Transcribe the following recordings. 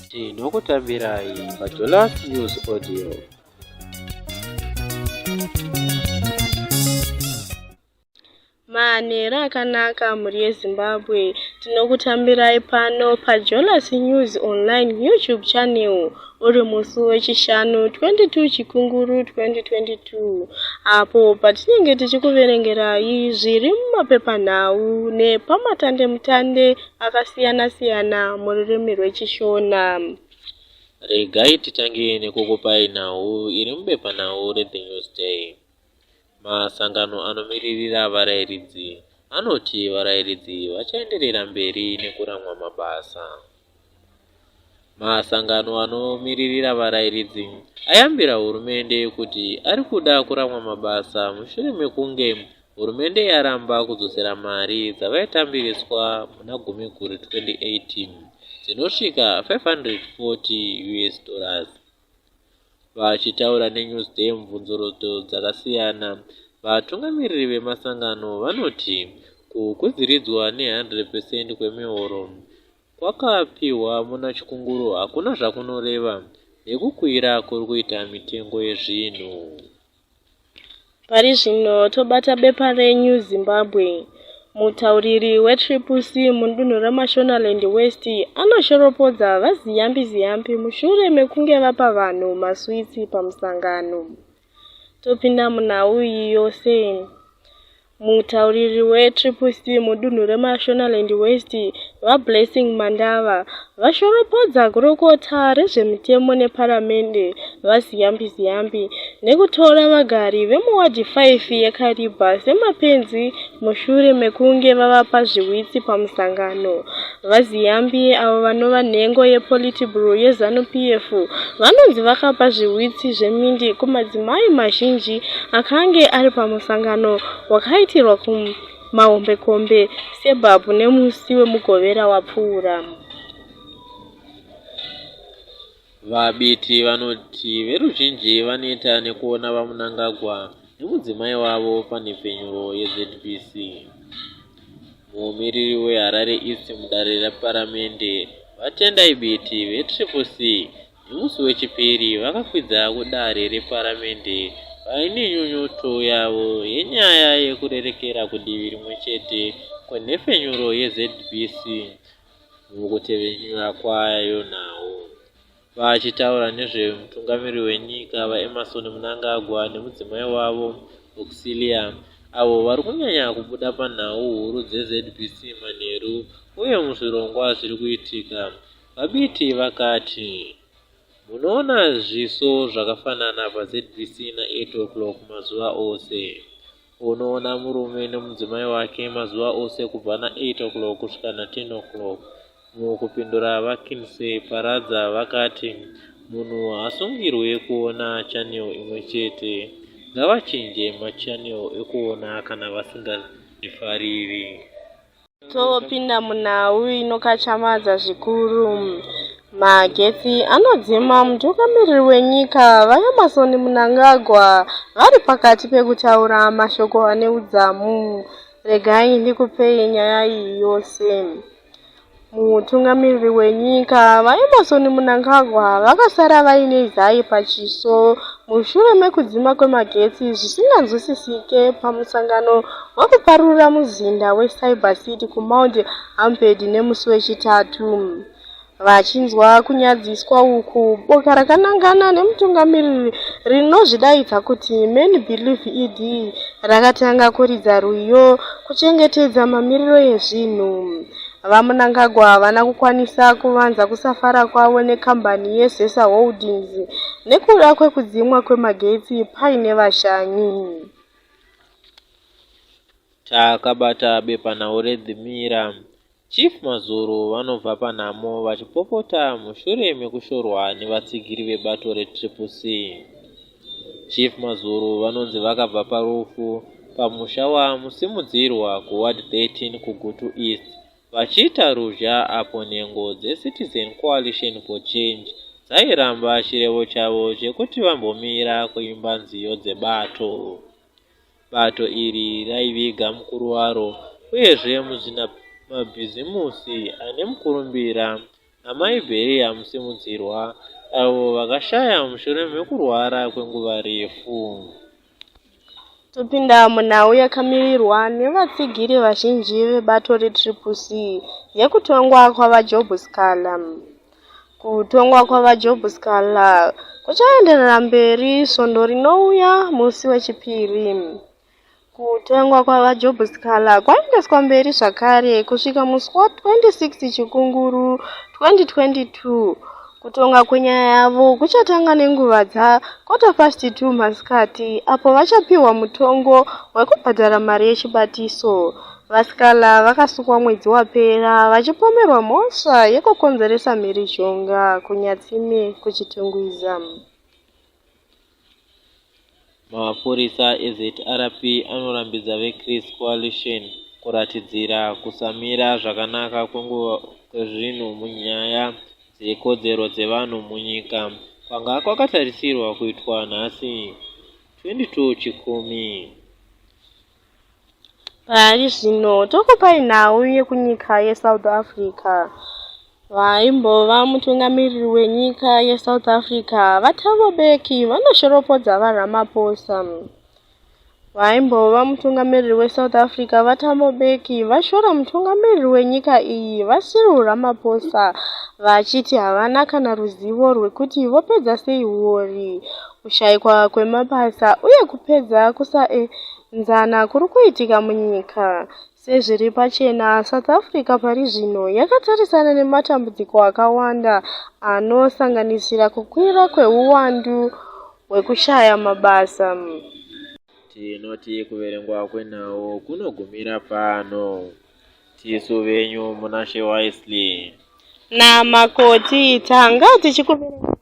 tinokutambirai pajolas news audio manhero akanaka mhuri yezimbabwe tinokutambirai pano pajolas news online youtube channel uri musi wechishanu 22 chikunguru 2022 apo patinenge tichikuverengerai zviri mumapepanhau nepamatandemutande akasiyana-siyana mururimi rwechishona regai titange nekukupai nhau iri mubepanhau rethenews day Masangano anomiririra varairidzi anoti varairidzi vachaenderera mberi nekuramwa mabasa. Masangano anomiririra varairidzi ayambira hurumende kuti ari kuda kuramwa mabasa mushure mekunge hurumende yaramba kudzosera mari dzavaitambiriswa muna Gumiguru 2018 dzinosvika 540 US dollars. Vachitaura neNewsDay mubvunzurudzo dzakasiyana, vatungamiriri vemasangano vanoti kukwidziridzwa ne 100 percent kwemihoro kwakapihwa muna Chikunguru hakuna zvakunoreva nekukwira kuri kuita mitengo yezvinhu. Pari zvino tobata bepa reNew Zimbabwe. Mutauriri weTriple C mudunhu reMashonaland West anoshoropodza VaZiyambi Ziyambi mushure mekunge vapa vanhu maswitsi pamusangano. Topinda munhau iyi yose. Mutauriri weTriple C mudunhu reMashonaland West, VaBlessing Mandava, vashoropodza gurukota rezvemitemo neparamende, VaZiyambi Ziyambi, nekutora vagari vemuwadhi 5 yeKariba semapenzi mushure mekunge vavapa zvihwitsi pamusangano. VaZiyambi, avo vanova nhengo yePolitburo yeZanu-PF, vanonzi vakapa zvihwitsi zvemindi kumadzimai mazhinji akange ari pamusangano wakaitirwa kumahombekombe sebhabhu nemusi weMugovera wapfuura. VaBiti vanoti veruzhinji vaneta nekuona VaMnangagwa nemudzimai wavo panhepfenyuro yeZBC. Mumiriri weHarare East mudare reparamende, VaTendai Biti veTriple C, nemusi weChipiri vakakwidza kudare reparamende vaine nyunyuto yavo yenyaya yekurerekera kudivi rimwe chete kwenhepfenyuro yeZBC mukutevenyura kwayo nhau. Vachitaura nezvemutungamiri wenyika VaEmmerson Mnangagwa nemudzimai wavo Auxilia avo vari kunyanya kubuda panhau huru dzeZBC manheru uye muzvirongwa zviri kuitika, VaBiti vakati, Munoona zviso zvakafanana paZBC na8 o'clock mazuva ose. Unoona murume nemudzimai wake mazuva ose kubva na 8 o'clock kusvika na 10 o'clock. Mukupindura vaKinsey Paradza vakati munhu haasungirwe kuona channel imwe chete. Ngavachinje machannel ekuona kana vasingafariri. Topinda munhau inokachamadza zvikuru. Magetsi anodzima mutungamiriri wenyika VaEmmerson Mnangagwa vari pakati pekutaura mashoko ane udzamu. Regai ndikupei nyaya iyi yose. Mutungamiriri wenyika VaEmmerson Mnangagwa vakasara vaine zai pachiso mushure mekudzima kwemagetsi zvisinganzwisisike pamusangano wekuparurira muzinda weCyber City kuMount Hamped nemusi weChitatu. Vachinzwa kunyadziswa uku, boka rakanangana nemutungamiriri rinozvidaidza kuti Men Believe ED rakatanga kuridza rwiyo kuchengetedza mamiriro ezvinhu. VaMnangagwa havana kukwanisa kuvanza kusafara kwavo nekambani yeZESA Holdings nekuda kwekudzimwa kwemagetsi paine vashanyi. Takabata bepanhau reThe Mirror, Chief Mazuru vanobva panhamo vachipopota mushure mekushorwa nevatsigiri vebato reTriple C. Chief Mazuru vanonzi vakabva parufu pamusha waMusimudzirwa kuWard 13 kuGutu East vachiita ruzha apo nhengo dzeCitizen Coalition for Change dzairamba chirevo chavo chekuti vambomira kuimba nziyo dzebato. Bato iri raiviga mukuru waro uyezve muzvinamabhizimusi ane mukurumbira Amai Beria Musimudzirwa, avo vakashaya mushure mekurwara kwenguva refu. Topinda munhau yakamirirwa nevatsigiri vazhinji vebato reTriple C yekutongwa kwaVaJob Sikhala. Kutongwa kwaVaJob Sikhala kuchaenderera mberi svondo rinouya musi weChipiri. Kutengwa kwaVaJob Sikhala kwaendeswa mberi zvakare kusvika musi wa 26 Chikunguru 2022. Kutonga kwenyaya yavo kuchatanga nenguva dza quarter past 2 masikati apo vachapihwa mutongo wekubhadhara mari yechibatiso. VaSikhala vakasukwa mwedzi wapera vachipomerwa mhosva yekukonzeresa mhirizhonga kuNyatsime kuChitungwiza. Mapurisa eZRP anorambidza veChris Coalition kuratidzira kusamira zvakanaka kwenguva kwezvinhu munyaya dzekodzero dzevanhu munyika kwanga kwakatarisirwa kuitwa nhasi 22 Chikumi. Pari zvino tokupai nhau yekunyika yeSouth Africa. Vaimbova mutungamiriri wenyika yeSouth Africa, VaThabo Mbeki, vanoshoropodza VaRamaphosa. Vaimbova mutungamiriri weSouth Africa, VaThabo Mbeki, vashora mutungamiriri wenyika iyi, VaCyril Ramaphosa, vachiti havana kana ruzivo rwekuti vopedza sei huori kushaikwa kwemabasa uye kupedza kusaenzana kuri kuitika munyika. Sezviri pachena, South Africa pari zvino yakatarisana nematambudziko akawanda anosanganisira kukwira kwehuwandu hwekushaya mabasa. Tinoti kuverengwa kwenhau kunogumira pano. Tisu venyu Munashe Wisely. NaMakoti tanga tichikuverenga.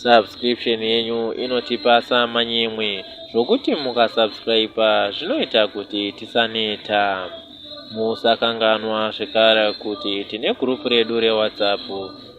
subscription yenyu inotipasa manyemwe zvokuti mukasubscriba zvinoita kuti tisaneta musakanganwa zvekare kuti tine gurupu redu rewhatsapp